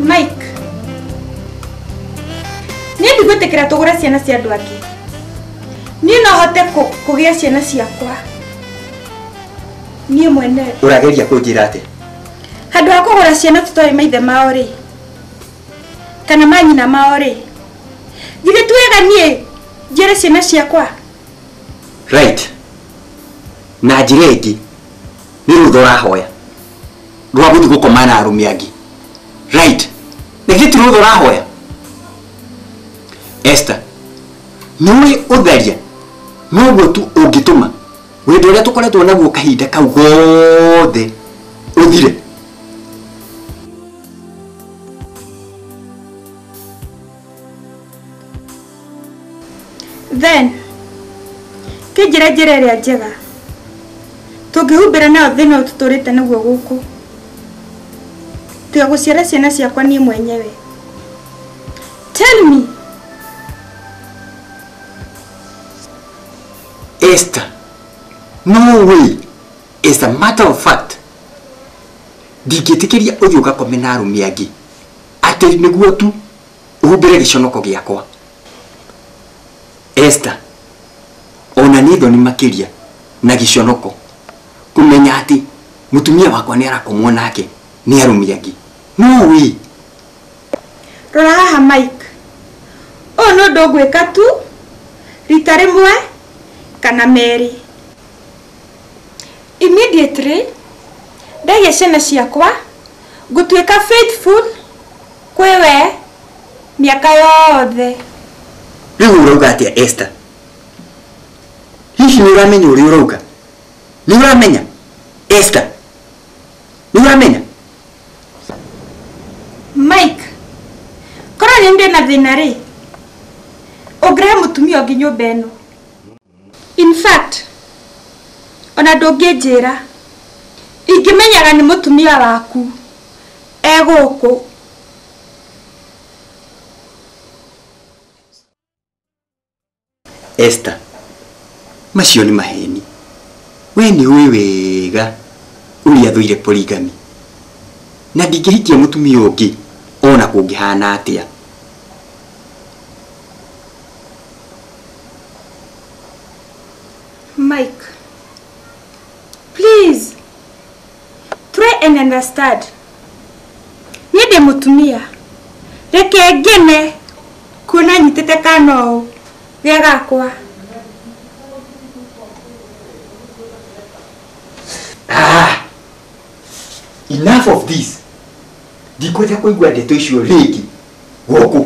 Mike. Nĩ ndigwĩtĩkĩra tũgũre ciana cia andũ angĩ. Niĩ no hote kũ- kũgĩa ciana ciakwa. Niĩ mwene. ũrageria kũnjĩra atĩ Handũ ha kũgũra ciana tũtoĩ maithe mao rĩ. Kana manyina mao rĩ. Githĩ ti wega niĩ njere ciana ciakwa. right na njĩra ĩngĩ nĩ rũtha ũrahoya rwa guthiĩ gũkoma na arũme angĩ right na ithuĩ ti rũtha ũrahoya Esther nĩũĩ ũtharia noguo tu ũngĩtũma wendo ũrĩa tũkoretwo naguo kahinda kau gothe ũthire then kĩnjĩra njĩra ĩrĩa njega tũngĩhumbĩra nayo thĩna ũyũ tũtũrĩte naguo gũkũ tiga gũciara ciana ciakwa niĩ mwenyewe tell me Esther, no way. As a matter of fact, ndingĩtĩkĩria ũthiĩ ũgakome na arũme angĩ atĩ nĩguo tu ũhumbĩre gĩconoko gĩakwa esta ona nĩ thoni makĩria na gĩconoko kũmenya atĩ mũtumia wakwa nĩ arakomwo nake nĩ arũmi angĩ no wĩ rora haha mike ũyũ nĩ ũndũ ngwĩka tu rita rĩmwe kana merĩ immediately ndaiga ciana ciakwa Ngũtuĩka faithful kwĩ we mĩaka yothe. Rĩu ũrauga atĩa Esther? Hihi nĩũramenya ũrĩa ũrauga? Nĩũramenya Esther? Nĩũramenya? Mike, korwo nĩniĩ ndĩna thĩna-rĩ, ũngĩrehe mũtumia ũngĩ nyũmba ĩno? in fact ona ndũngĩnjĩra ingĩmenyaga nĩ mũtumia waku e gũkũ Esther, macio nĩ maheni. We nĩ ũĩ wega ũrĩa athũire polygamy. Na ndingĩhikia mũtumia ũngĩ ona kũngĩhana atĩa. Mike, please try and understand. Niĩ ndĩ mũtumia. Reke ngene kuona nyitĩte kana ũũ rĩa gakwa. Ah! Enough of this. Ndikwenda kũigua ndeto icio rĩngĩ. Gũkũ.